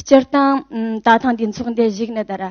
སྤྱིར་བཏང་ད་ཐེངས་འདི་ཚོགས་འདི་བཞུགས་ནས་དར་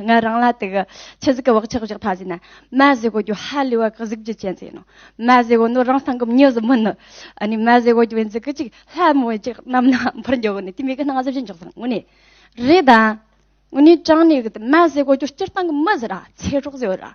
ང་རང་ལ་དུ་གི་ཆུ་ཟིག་གི་བག་ཆགས་བཞག་ཐ་ཟིན་ན་མ་ཟི་གོ་རྒྱུ་ཧ་ལས་བ་གི་གཟུགས་རྒྱུ་ཅན་ཟི་ཡིན་ནོ་མ་ཟི་གོ་ནོ་རང་སང་གི་མྱི་ཟི་མིན་ནོ་ཨ་ནི་མ་ཟི་གོ་རྒྱུ་བའི་འཛི་གི་ཅིག་ལྷ་མོ་བའི་ཅིག་རྣམ་ན་འཕུར་འགྱོ་གི་ནི་དེ་མི་གི་སྣང་ཟི་བཞིན་འཇོག་ཟིན་ངུ་ནི་རེད་ད་ངུ་ནི་ཀྲང་ནི་གི་དུ་མ་ཟི་གོ་རྒྱུ་སྤྱིར་བཏང་གི་མི་ཟི་ར་ཚེ་སྲོག་ཟི་ཡོད་ར།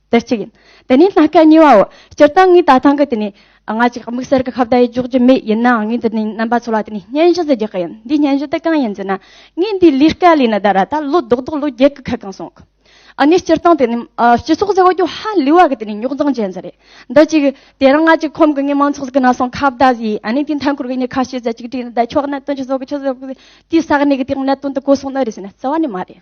དེར་གཅིག་ཡིན། དེ་ནས་སྣ་ཁ་གཉིས་པའོ། སྤྱིར་བཏང་ངའི་ལྟ་སྟངས་ཀྱིས་དེ་ནི། ང་གཅིག་དམིགས་བསལ་གྱི་ཁ་བརྡ་ཡིག་འཇོག་རྒྱུ་མེད་ཡིན་ནའང་ངས་འདི་ནས་རྣམ་པ་ཚོ་ལ་དེ་ནི་སྙན་ཞུ་ཟེར་རྒྱུ་ག་ཡིན། འདིའི་སྙན་ཞུ་དེ་གང་ཡིན་ཟེར་ན། ངས་འདིའི་ལས་ཀ་ལས་ནི་ད་ར་ད་ལོ་རྡོག་རྡོག་ལོ་བརྒྱད་ཀྱི་ཁ་གང་སོང་གི། ནས་སྤྱིར་བཏང་དེ་ནི། སྤྱི་ཚོགས་ཟེར་བ་རྒྱུ་ཧ་ལས་བ་གི་དེ་ནི་རྙོག་འཛིང་ཅན་ཟིག་རེད། འདི་གཅིག། དེ་རིང་ང་གཅིག་ཁོམ་གི་ངའི་མང་ཚོགས་ཀྱི་ནང་སོང་ཁ་བརྡ་ཟེར། ཨ་ནི་དེའི་མཐའ་འཁོར་གྱི་ངའི་ཁ་ཤས་ཟེར་གཅིག་བྲིས་ནས་བསྡད་ཆོག་གནད་དོན་ཅི་ཟོག་གི་ཆུ་ཟོག་གི། དེའི་ས་གནས་ཀྱི་དེ་རིང་གནད་དོན་དེ་གོ་སོང་ནི་རེད་ཟེར་ན་རྩ་བ་ནས་མ་རེད།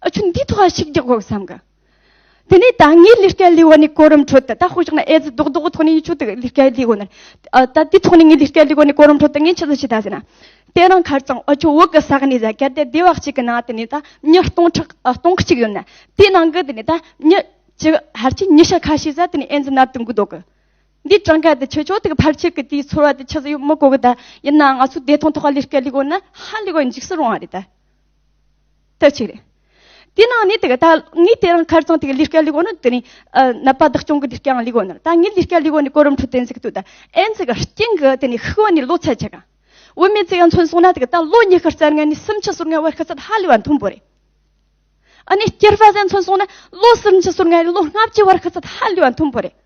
ཨ་ཆུ་འདིའི་ཐོག་ཞིག་རྒྱག་དགོས་བསམ་གི། དེ་ནས་ད་ངའི་ལས་ཀའི་ལས་འོག་ནས་གོ་རིམ་ཁྲོད་དུ་ད་ཧོ་ཞིག་ན་ཨེ་ཙི་རྡོག་རྡོག་གི་ཐོག་ནས་ཡིན་ཆོག་དེ་ལས་ཀའི་ལས་འོག་ནས། ད་དེའི་ཐོག་ནས་ངའི་ལས་ཀའི་ལས་འོག་ནས་གོ་རིམ་ཁྲོད་དུ་ངས་ཆི་ཟ་ཞིག་ད་ཟེར་ན། དེ་རིང་ཁར་ཙང་ཨ་ཆུ་འོག་གི་ས་གནས་ཟ་གལ་ཏེ་སྡེ་བ་གཅིག་གི་ནང་དུ་ནས་ད་མྱི་སྟོང་ཕྲག་སྟོང་གཅིག་ཡོད་ན། དེའི་ནང་གི་དེ་ནས་ད་མྱི་ཅི་ཧར་གྱིས་མྱི་ཤ་ཁ་ཤས་ཟ་དེ་ནས་ཨེ་ཙི་ནར་དུ་འགུག་དོགས་གི། འདིའི་གྲངས་ཀ་དེ་ཆོས་ཕྱོགས་དེ་གི་ཕར་ཆེར་གི་དེའི་ཚོར་བ་དེ་ཆི་ཟ་ཡོད་མི་གོ་གི་ད་ཡིན་ནའང་ང་ཚོའི་བདེ་ཐང་ཐོག་ལས་ཀའི་ལས་འོག་ན་ཧ་ལས་གོ་འཇིགས་སུ་རུང་བ་རེད་ད། དུ་ཆུག། དེའི་ནང་ནས་དེ་ག་ངའི་དེ་རིང་ཁར་ཙང་དེ་ག་ལི་སྐད་ལི་གོ་ནི་དེ་རིང་ནད་པ་བདག་སྐྱོང་གི་ལི་སྐད་ཡང་ལི་གོ་ནི་ད་ངའི་ལི་སྐད་ལི་གོ་ནི་གོ་རིམ་ཁྲོད་དེ་འཛིག་དུ་ད་ཨེ་འཛིག་ག་རྐྱེན་གི་དེ་ནི་ཤི་བ་ནི་ལོ་ཚད་ཆེ་ག་འོས་མེད་ཚད་ཡང་མཚོན་སོང་ན་དེ་ག་ད་ལོ་ཉི་ཤར་རྩར་ངའི་ནི་སུམ་ཆ་ཟུར་ལྔའི་བར་ཤི་ཚད་ཧ་ལས་བ་མཐོན་པོ་རེད། ཨ་ནི་སྐྱེར་པ་ཟད་མཚོན་སོང་ན་ལོ་སུམ་ཆ་ཟུར་ལྔའི་ལོ་ལྔ་བཅུའི་བར་ཤི་ཚད་ཧ་ལས་བ་མཐོན་པོ་རེད།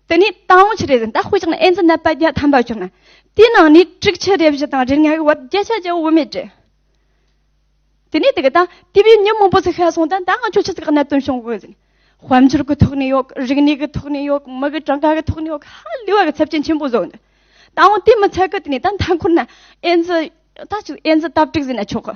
དེ་ནས་དང་བོ་ཆུ་རེ་ཟན་དང་དཔེ་ཆ་ཨེན་ཙི་ནད་པ་བརྒྱ་ཐམ་པ་བྱུང་ན་དེའི་ནང་ནས་དྲུག་ཆུ་རེ་བཞི་དང་རེ་ལྔ་ཡི་བར་བརྒྱད་ཆ་ཅན་འོ་མས་བྲི། དེ་ནས་དེ་ག་དང་དེ་བས་ཉིན་མང་པོ་ཟིག་ཤ་སོང་ད་ད་ང་ཆོ་ཆུ་ཚིགས་གནད་དོན་བྱུང་དགོས་ཟིན། དཔལ་འབྱོར་གི་ཐོག་ནས་ཡོད་རིག་གནས་ཀྱི་ཐོག་ནས་ཡོད་མི་གི་གྲངས་ཀ་གི་ཐོག་ནས་ཡོད་ཧ་ལས་བ་གི་ཚབས་ཆེན་ཆེན་པོ་བཟོ་འདུག་ད་འོང་དེ་མི་ཚད་གི་དེ་ནས་ད་མཐའ་འཁོར་ན་ཨེན་ཙི་ཨེན་ཙི་སྟབས་གྲིག་ཟིན་ན་ཆོག་གི།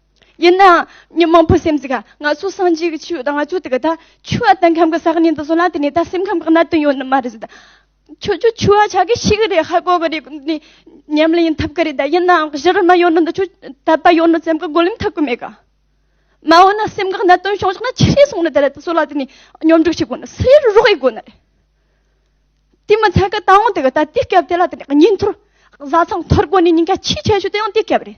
ཡིན་ནའང་མི་མང་པོའི་སེམས་སུ་ག་ང་ཚོ་སངས་རྒྱས་ཀྱི་ཆོས་ཡོད་དང་ང་ཚོ་དེ་ག་ད་ཆོས་ཨ་སྟག་ཁམས་ཀྱི་ས་གནས་འདི་སོང་ན་དེ་ནས་ད་སེམས་ཁམས་ཀྱི་གནད་དོན་ཡོད་ནི་མ་རེད་ད། ཁྱོད་ཚོ་ཆོས་ཨ་ཆགས་ཀྱི་ཤི་གི་རེད་ཧ་གོ་གི་རེད་ནི་ཉམས་ལེན་ཡིན་ཐུབ་ཀྱི་རེད་ད་ཡིན་ནའང་གཞི་རིམ་ན་ཡོད་ནི་འདི་ཆོས་དད་པ་ཡོད་ནི་སེམས་ཀྱི་བགོ་ལེམ་ཐག་གི་མེད་ག། མ་འོ་ན་སེམས་ཀྱི་གནད་དོན་བྱུང་ཆོག་ན་ཆི་ཧྲི་སོང་ནི་དེ་རེད་ད་སོ་ལ་དེ་ནས་སྙོམས་སྒྲིག་བྱེད་དགོས་ནི་སེ་རུ་རོགས་ཡིན་དགོས་ནི་རེད། དེ་མི་ཚད་གི་ད་འོང་དེ་ག་ད་དུས་སྐབས་དེ་ལ་དེ་ནས་ཉིན་ཐོར་བཟའ་ཚང་ཐོར་གོ་ནི་ཉིན་ག་ཆི་ཆེ་ཤོས་དེ་ཡང་དུས་སྐབས་རེད།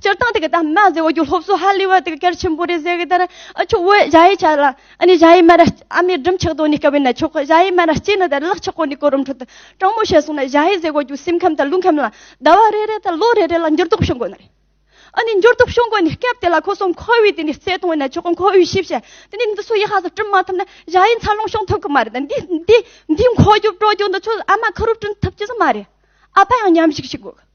སྤྱིར་བཏང་དེ་གའི་དམ་པ་ཟེར་བ་རྒྱུ་སློབ་གསོ་ཧ་ལས་པ་དེ་ག་གལ་ཆེན་པོ་རེད་ཟེར་གི་དེར་ཆུ་བོའི་གཞའ་ཡི་ཆ་ལ་ཨ་ནི་གཞའ་ཡི་སྨན་ར་ཨ་མའི་སྦྲུམ་ཆགས་དོན་ནི་དཀའ་བས་ན་ཆོག་གི་གཞའ་ཡི་སྨན་ར་གཅིག་ནི་དེར་གླགས་ཆགས་གོ་ནི་གོ་རུམ་ཁྲོད་དུ་སྤྲང་མོ་བྱས་སོང་ན་གཞའ་ཡི་ཟེར་བ་རྒྱུ་སེམས་ཁམས་དང་རླུང་ཁམས་ལ་ཟླ་བ་རེ་རེ་དང་ལོ་རེ་རེ་ལ་འགྱུར་ལྡོག་བྱུང་གོ་ནི་རེད། ཨ་ནི་འགྱུར་ལྡོག་བྱུང་གོ་ནི་སྐབས་དེ་ལ་ཁོ་སོང་ཁོ་བོས་དེ་ནི་རྩད་གཏོང་བས་ན་ཆོག་གི་ཁོ་བོས་ཞིབ་བཤེར་དེ་ནི་འདི་སུ་ཡི་ཧ་ཟེར་བསྐྲུན་མ་ཐུབ་ན་གཞའ་ཡི་འཚར་ལོངས་བྱུང་ཐུབ་གི་མ་རེད་འདི་འདི་འདི་འཁོར་རྒྱུག་སྤྲོ་རྒྱུག་འདི་ཚོ་ཨ་མ་ཁ་རུབ་བསྐྲུན་ཐུབ་ཀྱི་ས་མ་རེད་ཨ་ཕ་ཡང་ཉམས་ཞིག་བྱེད་དགོས་གི།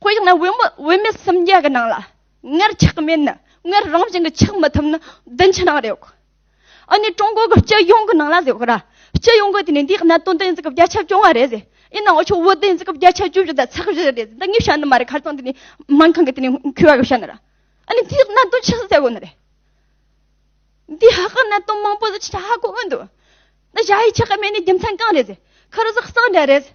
དཔེར་ན་བུད་མེད་སུམ་བརྒྱ་གི་ནང་ལ་མངལ་ཆགས་མེད་ན་མངལ་རང་བཞིན་གྱིས་ཆགས་མི་ཐུབ་ན་བདུན་ཕྱི་ནང་རེད་ཨ་ནི་ཀྲུང་གོ་གི་སྤྱི་ཡོངས་ཀྱི་ནང་ལ་ཟེར་ར་སྤྱི་ཡོངས་ཀྱི་དེ་ནས་འདིའི་གནད་དོན་དེ་འཛིན་སྐབས་བརྒྱ་ཆ་བཅོ་ལྔ་རེད་ཟེར་ཡིན་ནའང་ཆུ་བོ་དེ་འཛིན་སྐབས་བརྒྱ་ཆ་བཅུ་བཞི་དང་ཚགས་བཞི་རེད་ཟེར་ད་ངས་བཤད་ནི་མ་རེད་ཁར་ཙང་དེ་ནས་སྨན་ཁང་གི་དེ་ནས་ཁུ་བ་གི་བཤད་ནི་ར་ཨ་ནི་འདིའི་གནད་དོན་ཆི་ཟིག་ཟེར་དགོས་ནི་རེད་འདི་ཧ་གི་གནད་དོན་མང་པོ་ཟིག་ཆི་ཧ་གོ་འོས་འདུག་ད་བྱ་ཡི་ཆི་གི་མེད་ནི་རྒྱུ་མཚན་གང་རེད་ཟེར་ཁར་ཟིག་གསང་འདྲ་རེད་ཟེར་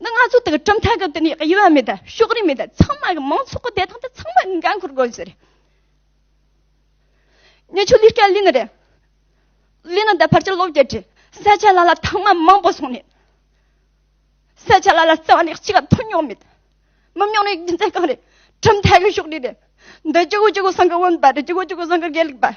འདི་ང་ཚོ་དང་གྲུབ་མཐའ་གང་དུ་ནས་དབྱེ་བ་མེད་ད་ཕྱོགས་རིས་མེད་ད་ཚང་མ་གི་མང་ཚོགས་ཀྱི་བདེ་ཐང་དེ་ཚང་མ་གི་འགན་འཁུར་དགོས་ཟེར། ཉེ་ཆོས་ལུས་སྐྲ་ལི་ནི་རེད། ལི་ནི་ད་ཕར་ཆེར་ལོག་བརྒྱད་ཁྲི་ས་ཆ་ལ་ལ་ཐང་མ་མང་པོ་སོང་ནས། ས་ཆ་ལ་ལ་རྩ་བ་ནས་གཅིག་ཀ་ཐོན་མྱོང་མེད། མི་མྱོང་ནི་རྒྱུ་མཚན་གང་རེད་གྲུབ་མཐའ་གི་ཕྱོགས་རིས་རེད། འདི་ཅི་གོ་ཅི་གོ་ཟངས་ཀྱི་བུམ་པ་རེད་ཅི་གོ་ཅི་གོ་ཟངས་ཀྱི་དགེ་ལུགས་པ།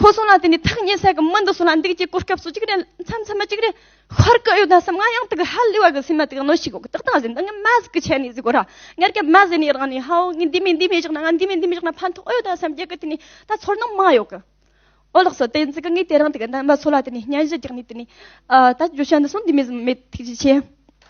ཁོ་སོང་ལ་དེ་ནས་ཐག་ཉེ་ས་གི་མི་འདི་སོང་ལ་འདུག་ཅེས་གོ་སྐབས་སུ་གཅིག་རེ་མཚམས་མཚམས་མ་གཅིག་རེ་ཤོར་གི་ཡོད་ན་བསམ་ང་ཡང་དེ་གི་ཧ་ལས་བ་གི་སེམས་མ་དེ་གི་གནོད་ཤིག་གོ་གི་ཏག་ཏག་བཞིན་འདི་ངས་མ་ཟིག་གི་ཆད་ནས་ཟིག་གོ་ར་ངར་སྐད་མ་ཟེར་ནས་རང་ནས་ཧའོ་ངས་འདི་མེད་འདི་མེད་བཞག་ན་ང་འདི་མེད་འདི་མེད་བཞག་ན་ཕན་ཐོགས་ཡོད་ད་བསམ་རྒྱག་གི་དེ་ནས་ད་ཚོར་སྣང་མ་ཡོད་གི་ཨོ་ལགས་སོ་དེ་འཛི་གི་ངས་དེ་རིང་དེ་གི་འདམ་པ་སོ་ལ་དེ་ནས་བརྙན་བཞི་རྒྱག་ནས་དེ་ནས་ད་རྒྱུ་ཆ་འདི་སོང་འདི་མེད་ཟིག་མེད་ཐུགས་རྗེ་ཆེ།